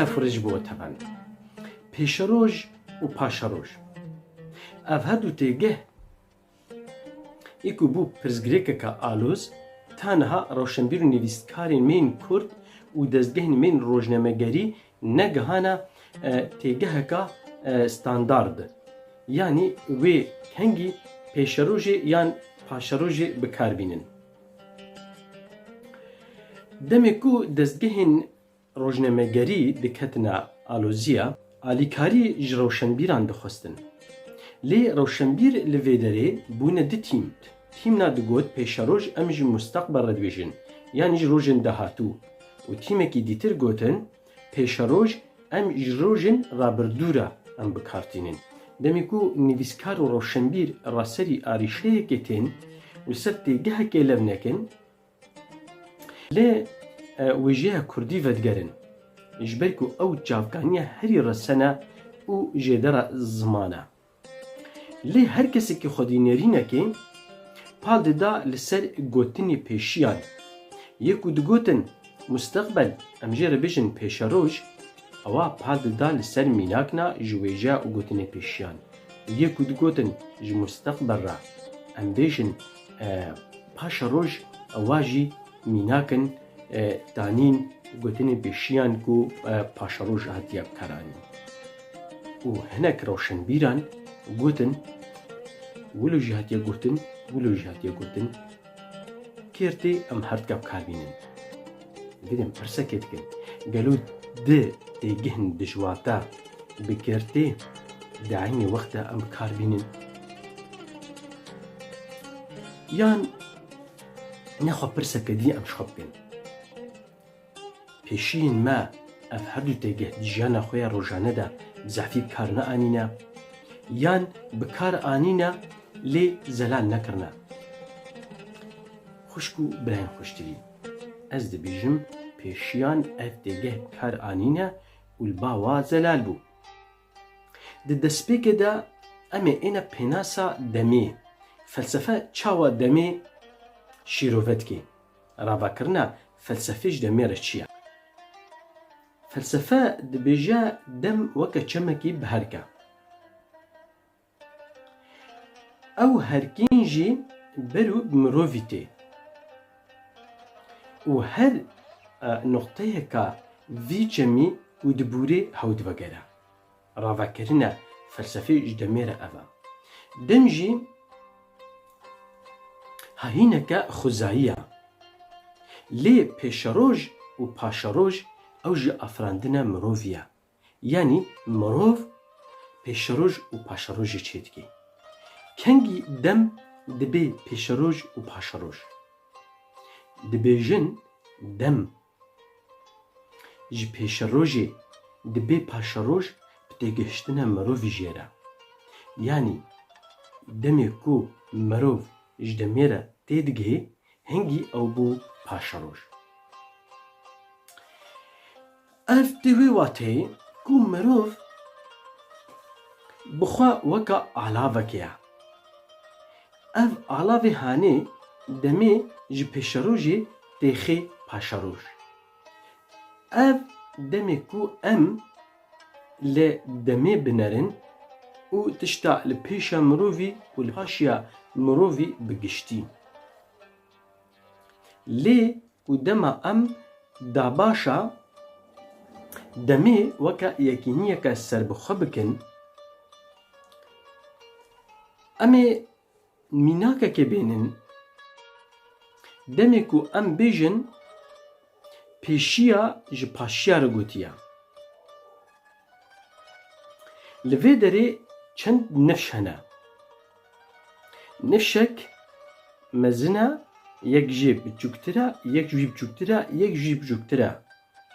Stefurê ji bo we tevane. Pêşeroj û paşeroj. Ev her du têgeh Yê ku bû pirsgirêkeke alûz, ta niha rewşenbîr û nivîskarên mêyên Kurd û dezgehên mêyên rojnamegerî negihana têgeheka standard, yanî wê kengî pêşerojê yan paşerojê bi kar bînin. Demê ku dezgehên Rojnamegerî diketine aloziya alîkarî ji rewşenbîran dixwestin. Lê rewşenbîr li vê derê bûne du tîm. Tîmna digot pêşeroj em ji mûsteqbel re dibêjin yanî ji rojên dahatû û tîmekî dîtir gotin pêşeroj em ji rojên rabirdû re em bi kar tînin. Demê ku nivîskar û rewşenbîr ra serî arîşeyekê tên û ser têgehekê lev nekin, Lê wêjeya Kurdî vedigerin, ji ber ku ew çavkaniya herî resene û jêdera ziman e. Lê her kesekî xwedî nêrînekê pal dida li ser gotinê pêşiyan. Yê ku digotin musteqbel, em jê re bijin pêşeroj, ewa pal dida li ser mînakna ji wêjeya û gotinê pêşiyan. Yê ku digotin ji musteqbel re, em bêjin Paşa roj ewa jî mînak in danîn gotinên pêşiyan ku paşa roj hatiye bikaranîn û hinek rewşenbîran gotin wilo jî hatiye gotin wilo jî hatiye gotin kêrtê em her dika bikarbînin. Girên pirsekê dikin. Gelo di têgihên dijwar de bi girtî di eynî wext de em bi kar bînin? Yan ne xwe pirseke dî em ji xwe bikin. Pêşiyên me ev her du têgih di jiyana xwe ya rojane de bi zehfî bi kar neanîne yan bi kar anîne lê zelal nekirine. Xwişk û birayên xweştirîn. Ez dibîjim pêşiyan ev têgeh bi kar anîne û li ba wa zelal bû. Di destpêkê de em ê êne pênasa demê, felsefe çawa demê şîrove dike. Ravakirina felsefê ji demê re çi ye? Felsefe dibêje dem weke çemekî bi herk e. Ew her kîn jî ber û bi mirovî tê û her nuqteyeka vî çemî û dibûrê hew divegere. Ravekirina felsefê ji demê re ev e. Dem jî hahîneke xwezayî ye. Lê pêşeroj û paşeroj ew jî afirandina mirovî ye. Yanî mirov pêşeroj û paşerojê çêdike. Kengî dem dibê pêşeroj û paşeroj. Dibêjin dem ji pêşerojê dibê paşeroj bi têgihiştina mirovî jê re. Yanî demê ku mirov ji demê re têdigihê hingî ew bû paşeroj. Ev di wê wateyê ku mirov bi xwe weka alavekê ye. Ev alavê hanê demê ji pêşerojê tê xê paşeroj. Ev demê ku em li demê binerin û tişta li pêşa mirovî û li paşiya mirovî bi giştî. Lê Û dema em dabaşa demê weke yekîniyeke serbixwe bikin, em ê mînakekê bêhnin. Demê ku em bêjin pêşiya ji paşiya re gotiye. Li vê derê çend nifş hene. Ne şek mezin e, yek jî biçûktir e, yek jî biçûktir e, yek jî biçûktir e.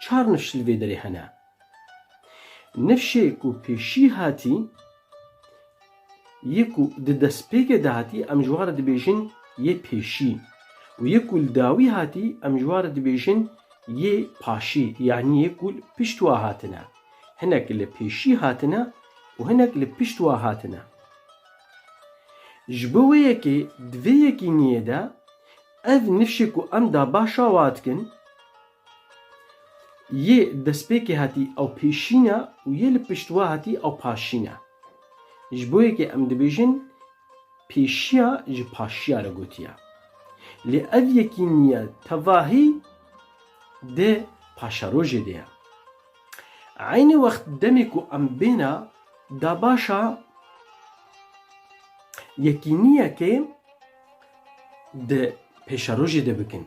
Çar nifş li vê derê hene. Nifşê ku pêşî hatî yê ku di destpêkê de hatî em ji wan re dibêjin yê pêşî û yê ku li dawî hatî em ji wan re dibêjin yê paşî yanî yê ku li pişt wa hatine. Hinek li pêşî hatine û hinek li pişt wa hatine. Ji bo wê yekê di vê yekîniyê de ev nifşê ku em da baş a wa dikin, yê destpêkê hatî ew pêşîn e û yê li pişt wa hatî ew paşîn e. Ji bo yekê em dibêjin pêşiya ji paşiya re gotiye. Lê ev yekîniye tevahî di paşerojê de ye. Eynî wext demê ku em bêne da baş a yekîniyekê di pêşerojê de bikin.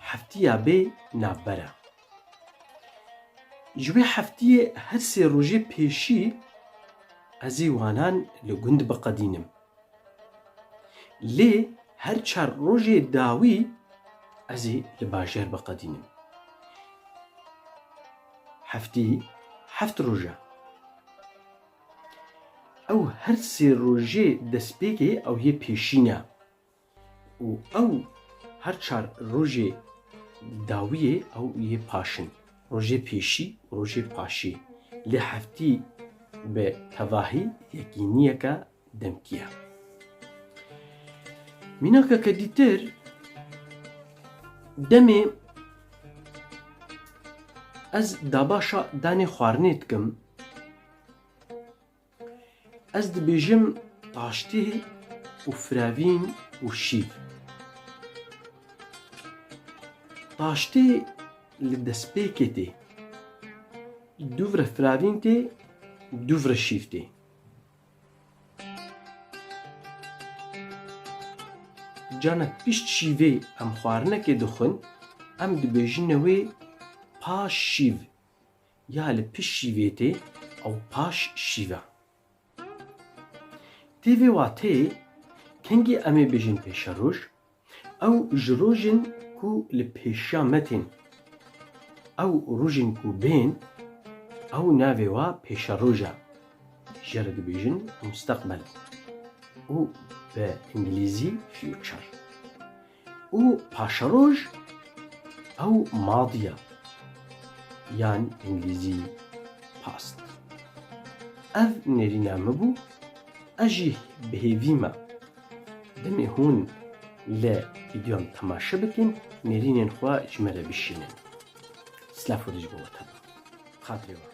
Heftiya bê navber e. Ji wê heftiyê her sê rojê pêşî ez ê wanan li gund biqedînim. Lê her çar rojê dawî ez ê li bajêr biqedînim. Heftî heft roj e. Ew her sê rojê destpêkê ew yê pêşîn e. Û ew her çar rojê dawiyê ew yê paş in, rojê pêşî û rojê paşî. Lê heftî bi tevahî yekîniyeke demkî ye. Mînakeke dîtir demê ez dabaşa danê xwarinê dikim. Ez dibêjim taştê û firevîn û şîv. Taştê li destpêkê tê. Dûvre firevîn tê, dûvre şîv tê. Cana pişt şîvê em xwarinekê dixwin, em dibêjine wê paş şîv. Ya li pişt şîvê tê ew paş şîve. Tê vê wateyê kengî em ê bêjin pêşeroj, ew ji rojên ku li pêşiya me tên. Ew rojên ku bên ew navê wa pêşeroj e. Jê re dibêjin musteqbel û bi îngilîzî future. û paşeroj ew madiya yan îngilîzî past. Ev nêrîna min bû, ez jî bi hêvî me. Demê hûn li vîdyoyan temaşe bikin, nêrînên xwe ji me re bişînin. Silav Xwedê ji bo we tebe. Xatirê wan.